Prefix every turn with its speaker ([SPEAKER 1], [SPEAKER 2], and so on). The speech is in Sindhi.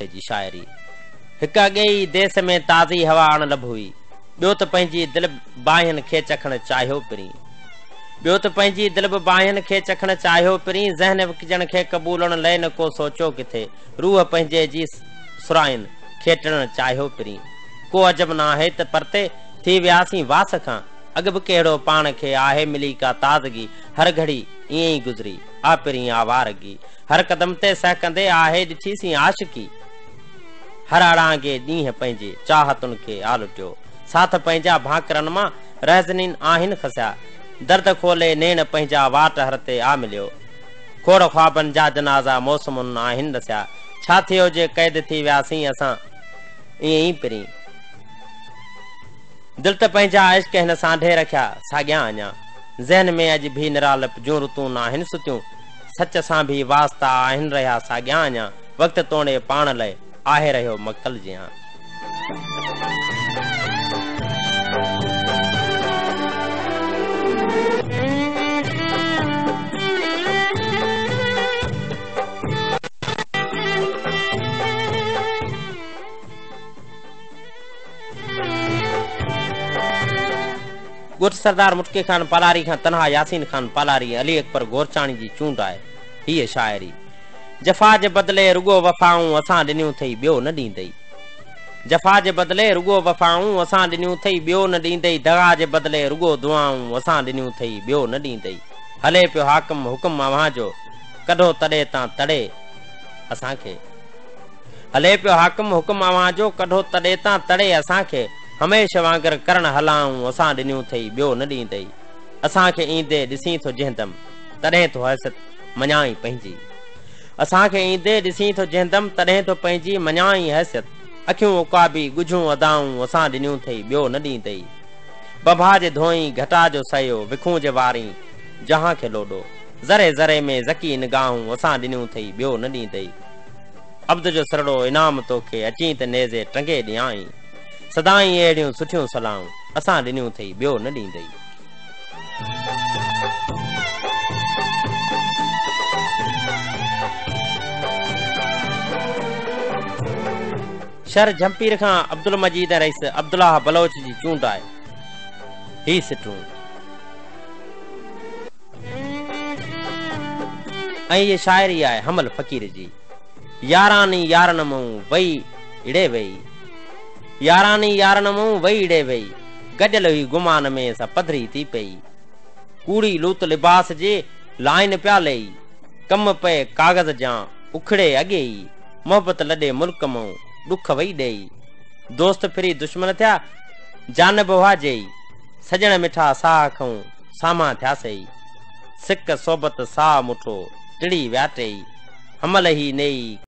[SPEAKER 1] هن جي شاعري هڪ اڳئي ئي ديس ۾ تازي هوا آڻ لڀ هئي. ٻيو ته پنهنجي دل به باهين کي چکڻ چاهيو پرين. ٻيو ته پنهنجي دل به باهين کي چکڻ چاهيو پرين. ذهن وڪجڻ کي قبولڻ لئه نه ڪو سوچيو ڪٿي. روح پنهنجي جي سرائين کي ٽڙڻ چاهيو پرين. ڪو عجب ناهي ته پرتي ٿي وياسين واس کان. اڳ به ڪهڙو پاڻ کي آهي ملي ڪا تازگي. هر گهڙي ائين ئي گذري آ پرين آوارگي. هر قدم تي سهڪندي آهي ڏٺي سين عاشقي هر اڙانگي ڏينهن پنهنجي چاهتن کي آ لٽيو ساٿ پنهنجا ڀانڪرن مان رهزنين آهن کسيا درد کولي نيڻ پنهنجا واٽ هر تي آ مليو کوڙ خوابن جا جنازا موسمن آهن رسيا ڇا ٿيو جي قيد ٿي وياسين اسان ائين ئي پرين دل ته پنهنجا عشق هن سانڍي رکيا ساڳيا اڃا ذهن ۾ اڄ به نرالپ جون رتون آهن ستيون سچ سان ڀي واسطا آهن رهيا ساڳيان اڃا وقت توڻي پاڻ لئه آهي رهيو مقتل جيان. ڳوٺ سردار مٽڪي خان پالاري کان تنها ياسين خان پالاري ۽ علي اڪبر گورچاڻي جي چونڊ آهي. هيء شاعري. جفا جي بدلي رڳو وفائون اسان ڏنيون ٿئي ٻيو نه ڏيندئي. جفا جي بدلي رڳو وفائون اسان ڏنيون ٿئي ٻيو نه ڏيندئي دغا جي بدلي رڳو دعائون اسان ڏنيون ٿئي ٻيو نه ڏيندئي هلي پيو حاڪم حڪم اوهان جو ڪڍو تڙي تان تڙي اسان کي هلي پيو حاڪم حڪم اوهان جو ڪڍو تڙي تان تڙي اسان کي. هميشه وانگر ڪرڻ هلانء اسان ڏنيون ٿئي ٻيو نه ڏيندئي اسان کي ايندي ڏسين ٿو جهندم تڏهن ٿو حيثت مڃانء پنهنجي اسان کي ايندي ڏسين ٿو جهندم تڏهن ٿو پنهنجي مڃانء حيثيت اکيون عقابي ڳجهون ادائون اسان ڏنيون ٿئي ٻيو نه ڏيندئي بڀا جي ڌوئين گهٽا جو سهيو وکون جي وارين جهان کي لوڏو ذري ذري ۾ ذڪي نگاهون اسان ڏنيون ٿئي ٻيو نه ڏيندئي عبد جو سرڙو انعام توکي اچين ته نيزي ٽنگي ڏيانء. سدائين اهڙيون سٺيون صلاحون اسان ڏنيون ٿئي ٻيو نه ڏيندئي. شھر جھمپير کان عبدالمجيد ۽ رئيس عبدالله بلوچ جي چونڊ آهي. هي سٽون. ۽ هيء شاعري آهي حمل فقير جي. ياراني يارن مئون وئي ڙي وئي. ياراني يارن مئون وئي ڙي وئي. گڏيل هئي گمان ۾ سا پڌري ٿي پئي. ڪوڙي لوت لباس جي لائين پيا لئي. ڪم پئي ڪاغذ جيان اکڙي اڳي ئي. محبت لڏي ملڪ مئون ڏک وئي ڏئي. دوست ڦري دشمن ٿيا جانب اها جئي. سڄڻ مٺا ساهه کئون سامهان ٿيا سئي. سڪ صحبت ساهه مٺو، ٽڙي وياٽئي، حمل هي نيئي.